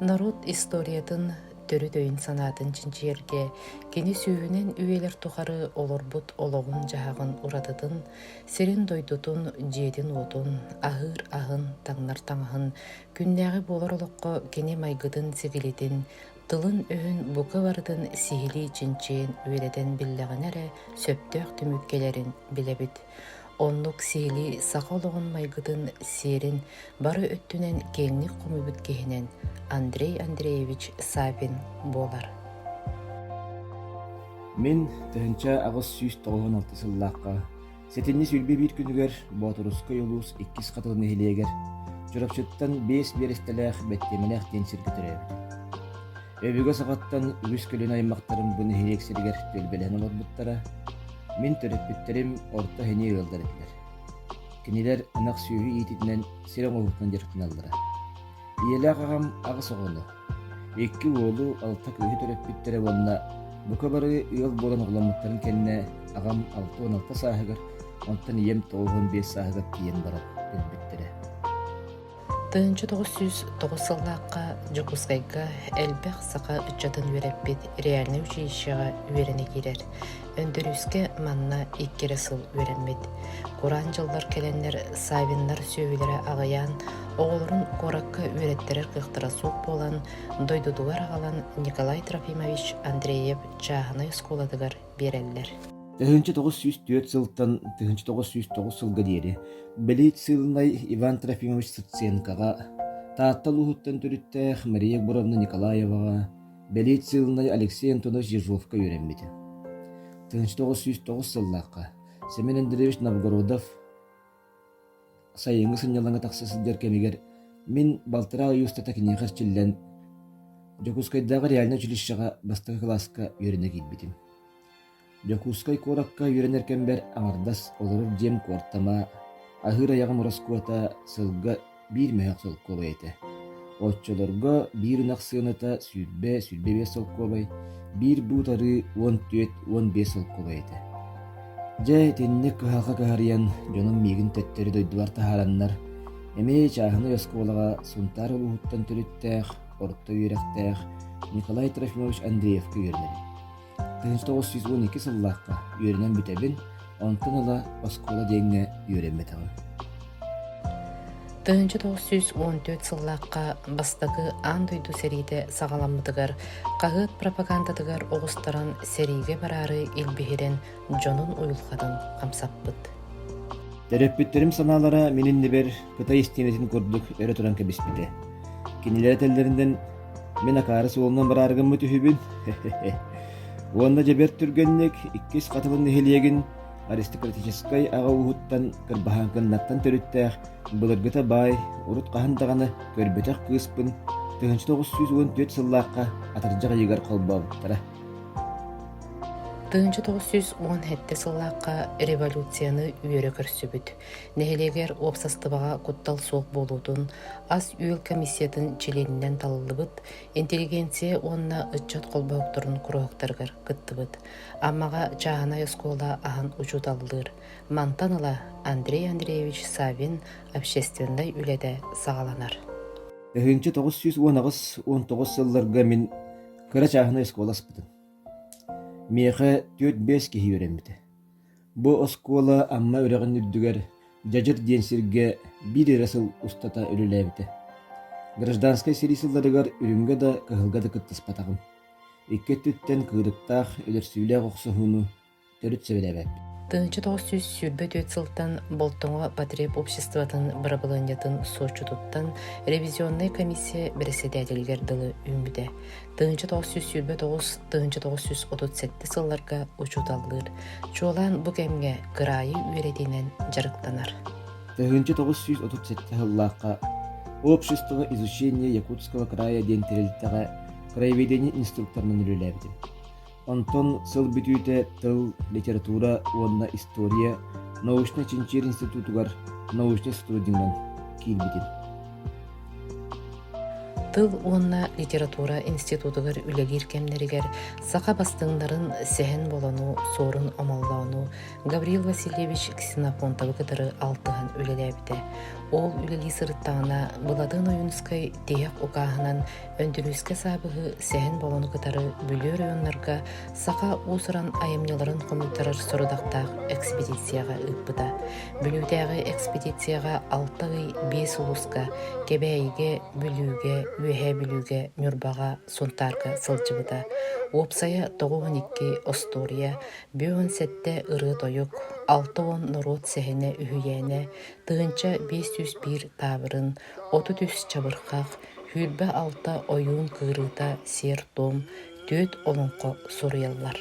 Народ историятын төрүт өйүн-санаатын чинчийэргэ кини сүүһүнэн үйэлэр тухары олорбут олоҕун-дьаһаҕын уратытын, сирин-дойдутун, дьиэтин-уотун, аһыыр аһын, таҥнар таҥаһын Күннээҕи буолар олоххо кини майгытын-ситилитин, тылын-өһүн бука барытын сиһилии-чинчийэн үөрэтэн биллэҕинэ эрэ сөптөөх түмүк кэлэрин билэбит. Оннук сиһилии саха олоҕун майгытын, сиэрин бары өттүнэн киэҥник хомуйбут киһинэн Андрей Андреевич Савин буолар. Мин тыһыынча аҕыс сүүс тоҕуһун алта сыллаахха Сэтинньи сүүрбэ биир күнүгэр Боотурускай улуус иккис Хатылы нэһилиэгэр Чурапчыттан биэс биэрэстэлээх бэттиэмэлээх диэн сиргэ төрөөбүт. Өбүгэ саҕаттан үгүс көлүөнэ аймактарым бу нэһилиэк сиригэр түөлбэлэһэн олорбуттара. Мин төрөппүттэрим орто эһиниэ ыалдар этилэр. Кинилэр ынах сүөһү иититинэн сир оҥоһуктан дьарыктаналлара. Ийэлээх аҕам аҕыс оҕону, Икки уолу, алта кыыһы төрөппүттэрэ уонна бука бары ыал буолан оҕоломмуттарын кэннэ аҕам алта уон алта сааһыгар, онтон ийэм тоҕус уон биэс сааһыгар тиийэн баран өлбүттэрэ. Тыһыынча тоҕус сүүс тоҕус сыллаахха Дьокуускайга элбэх саха ыччатын үөрэппит реальнай училищеҕа үөрэнэ киирэр. Өндөрүүскэ манна икки эрэ сыл үөрэммит. Кураан дьыллар кэлэннэр Савиннар сүөһүлэрэ аҕыйаан, оҕолорун куоракка үөрэттэрэр кыахтара суох буолан, дойдутугар аҕалан Николай Трофимович Андреев чааһынай оскуолатыгар биэрэллэр. Тыһыынча тоҕус сүүс түөрт сылтан тыһыынча тоҕус сүүс тоҕус сылга диэри белициилынай Иван Трофимович Сыценкоҕа, Таатта улууһуттан төрүттээх Мария Егоровна Николаеваҕа, Белициевнай Алексей Антонович Ежовка үөрэммитэ. тысяча тоҕус сүүс тоҕус сыллаахха Семен Андреевич Новгородов сайыҥҥы сынньалаҥҥа тахса сылдьар кэмигэр мин балтараа ый устата киниэхэ эрчиллэн Дьокуускайдааҕы реальнай училищеҕа бастакы кылааска үөрэнэ киирбитим. Дьокуускай куоракка үөрэнэр кэмбэр аҥардас олорор дьиэм куортама, аһыыр айаҕым ороскуота сылга биир мөһөөк солкуобай этэ. Оччолорго биир ынах сыаната сүүрбэ, сүүрбэ биэс солкуобай, биир буут арыы уон түөрт, уон биэс солкуобай этэ. Дьэ, итинник кыһалҕа кыһарыйан, дьонум миигин төттөрү дойдулар таһаараннар, эмиэ чааһынай оскуолаҕа Сунтаар улууһуттан төрүттээх, орто үөрэхтээх Николай Трофимович Андреевка үөрэнэбин. Тыһыынча тоҕус сүүс уон икки сыллаахха үөрэнэн бүтэбин, онтон ыла оскуола диэҥҥэ үөрэммэтэҕим. Тыһыынча тоҕус сүүс уон түөрт сыллаахха бастакы аан дойду сэриитэ саҕаламмытыгар хаһыат пропагандатыгар оҕустаран сэриигэ бараары илбиһирэн дьонун уйулҕатын хамсаппыт. Төрөппүттэрим санаалара мин иннибэр Кытай истиэнэтин курдук өрө туран кэбиспитэ. Кинилэр этэллэринэн Мин акаары суолунан бараары гыммыт үһүбүн уонна дьэ бэрт түргэнник иккис хатылын нэһилиэгин аристократическай аҕа ууһуттан кырбаһан кыннаттан төрүттээх былыргыта баай, урут хаһан даҕаны көрбөтөх кыыспын тыһыынча тоҕус сүүс уон түөрт сыллаахха атырдьах ыйыгар холбообуттара. Тыһыынча тоҕус сүүс уон сэттэ сыллаахха революцияны үөрэ көрсүбүт. Нэһилиэгэр уопсастыбаҕа куттал суох буолуутун, ас-үөл комиссиятын чилиэнинэн талыллыбыт, интеллигенция уонна ыччат холбоһуктарын куруһуктарыгар кыттыбыт. Аммаҕа чааһынай оскуола аһын учууталлыыр. Мантан ыла Андрей Андреевич Савин общественнай үлэтэ саҕаланар. Тыһыынча тоҕус сүүс уон аҕыс уон тоҕус сылларга мин кыра чааһынай оскуола аспытым. Миэхэ түөрт-бэс киһи үөрэммитэ. Бу оскуола Амма үрэҕин үрдүгэр Дьадьыр диэн сиргэ биир эрэ сыл устата үлэлээбитэ. Гражданскай сэрии сылларыгар үрүҥҥэ да кыһылга да кыттыспатаҕым. Икки өттүттэн кыырыктаах, өлөрсүүлээх охсуһууну төрүт сэбирээбэппин. Тыһыынча тоҕус сүүс сүүрбэ түөрт сылтан Болтоҥо потреб обществотын бырабылыанньатын суоччутуттан ревизионнай комиссия бэрэссэдээтэлигэр дылы үүммүтэ. тыһыынча тоҕус сүүс сүүрбэ тоҕус тыһыынча тоҕус сүүс отут сэттэ сылларга учууталлыыр чуолаан бу кэмҥэ кыраайы үөрэтиинэн дьарыктанар тыһыынча тоҕус сүүс отут сэттэ сыллаахха общество изучения якутского края диэн тэрилтэҕэ краеведение инструкторынан үлэлээбитим Онтон сыл бүтүүтэ тыл, литература уонна история научнай-чинчийэр институтугар научнай сотруднигынан киирбитим. Тыл уонна литература институтугар үлэлиир кэмнэригэр саха бастыҥнарын сэһэн болону, суорун омоллоону Гаврил Васильевич Ксенофонтовы кытары алтыһан үлэлээбитэ. Ол үлэлии сырыттаҕына Былатын Ойуунускай тиһэх укааһынан Өндүрүүскэ саабыһы сэһэн болону кытары Бүлүү оройуоннарга саха уус-уран айымньыларын хомуйтарар сорудахтаах экспедицияҕа ыыппыта. Бүлүүтээҕи экспедицияҕа алта ый биэс улууска Кэбээйигэ, Бүлүүгэ, Үөһээ Бүлүүгэ, Ньурбаҕа, Сунтаарга сылдьыбыта. Уопсайа тоҕус уон икки остуоруйа, биэс уон сэттэ ырыа-тойук, алта уон норуот сэһэнэ үһүйээнэ, тыһыынча биэс сүүс биир таабырын, отут үс чабырхах, Күүрбэ-алта ойуун кыырыыта сиэр-туом, түөрт олоҥхо суруйаллар.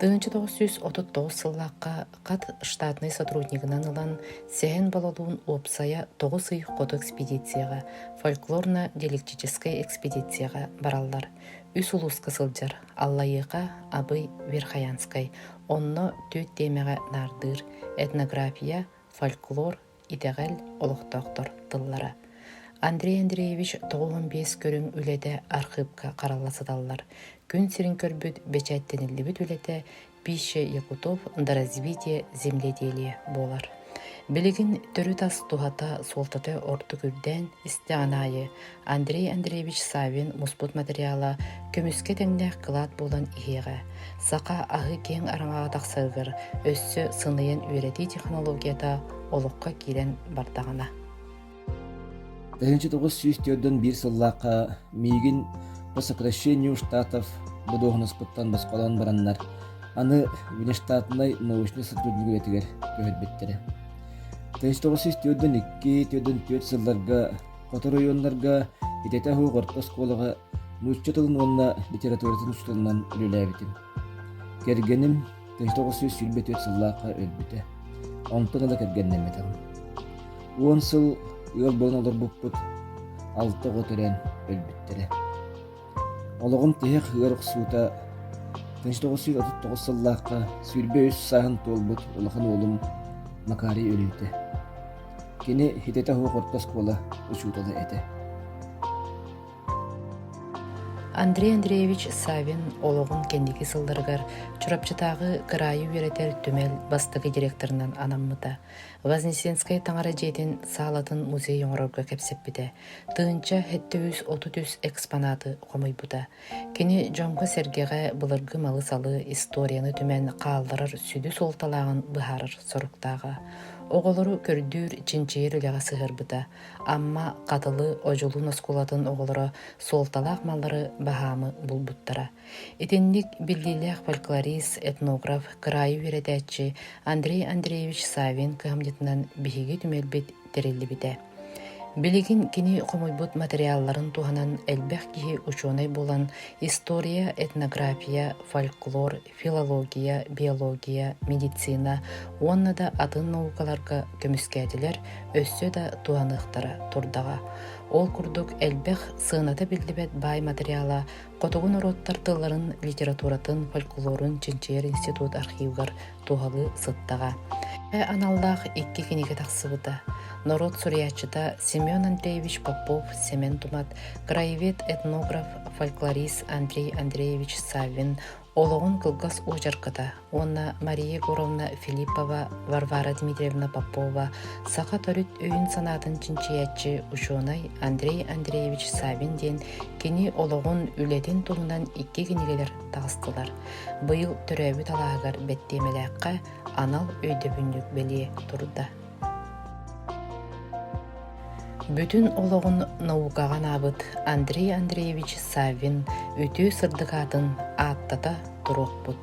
Тыһыынча тоҕус сүүс отут тоҕус сыллаахха Хат штатнай сотруднигынан ылан Сэһэн Балалуун уопсайа тоҕус ый хоту экспедицияҕа, фольклорно-диалектическай экспедицияҕа бараллар. Үс улууска сылдьар Аллайыаха, Абый, Верхоянскай, онно түөрт тиэмэҕэ наардыыр этнография, фольклор, Итэҕэл олохтоохтор тыллара Андрей Андреевич тоҕуһун биэс көрүҥ үлэтэ архыыпка харалла сыталлар күн сирин көрбүт бэчээттэниллибит үлэтэ Пища Якутов до развития земледелия буолар. Билигин төрүт ас туһата суолтата ордук үрдээн истэҕин аайы Андрей Андреевич Савин муспут материала көмүскэ тэҥнээх кылаат буолан иһиэҕэ. Саха аһы киэҥ араҥаҕа тахсарыгар өссө сыныйан үөрэтии технологията олоххо киирэн бардаҕына. ...1901 сыллаахха миигин по сокращению штатов бодуоһунаспыттан босхолоон бараннар, аны внештатнай научнай сотруднигиретигэр көһөрбүттэрэ. 1902-1904 сылларга Сотору ойуоннарга итэтэ оһуоҕар оскуолаҕа нуучча тылын уонна литературатын устуунан үлэлээбитим. Кэргэним тыһы тоҕус сүүс сүүрбэ түөрт сыллаахха өлбүтэ. Онтон ыла кэргэннэммитим. Уон сыл ыал буолан олорбуппут алта оҕо төрөөн өлбүттэрэ. Олоҕум тиһэх ыар охсуута, тынч тоҕустуур отут тоҕус сыллаахха сүүрбэ үс сааһын туолбут улахан уолум Макарий өлбүтэ. Кини хитэтэ суох орто оскуола учуутала этэ. Андрей Андреевич Савин олоҕун кэнники сылларыгар Чурапчытааҕы кыраайы үөрэтэр түмэл бастакы директорынан анаммыта. Вознесенскай таҥара дьиэтин саалатын музей оҥорорго кэпсэппитэ. тыһыынча сэттэ сүүс отут үс экспонаты хомуйбута. Кини дьоҥҥо-сэргэҕэ былыргы малы-салы, историяны түмэн хаалларар сүдү суолталааҕын быһаарар соруктааҕа. Оҕолору көрдүүр, чинчийэр үлэҕэ сыһыарбыта. Амма, Хатылы, Одьулуун оскуолатын оҕолоро суолталаах маллары баһаамы булбуттара. Итинник биллиилээх фольклорист, этнограф, кыраайы үөрэтээччи Андрей Андреевич Савин кыһамньытынан биһиги түмэлбит тэриллибитэ. Билигин кини хомуйбут материалларын туһанан элбэх киһи учуонай булан история, этнография, фольклор, филология, биология, медицина уонна да атын наукаларга көмүскээтилэр, өссө да туһаныахтара турдаҕа. Ол курдук элбэх сыаната биллибэт баай материала хотугу норуоттар тылларын, литературатын, фольклорун чинчийэр институт архивыгар туһалыы сыттаҕа. аналлаах икки кинигэ тахсыбыта. Норуот суруйааччыта Семен Андреевич Попов, Семен Тумат, краевед, этнограф, фольклорист Андрей Андреевич Саввин олоҕун кылгас уочарката уонна Мария Егоровна Филиппова, Варвара Дмитриевна Попова, саха төрүт өйүн-санаатын чинчийээччи, учуонай Андрей Андреевич Савин диэн кини олоҕун, үлэтин туһунан икки кинигэлэр таҕыстылар. Быйыл төрөөбүт алааһыгар бэттиэмэлээххэ анал өйдөбүнньүк бэлиэ турда. Бүтүн олоҕун наукаҕа анаабыт Андрей Андреевич Саввин үтүө сырдык аатын ааттата туруохпут.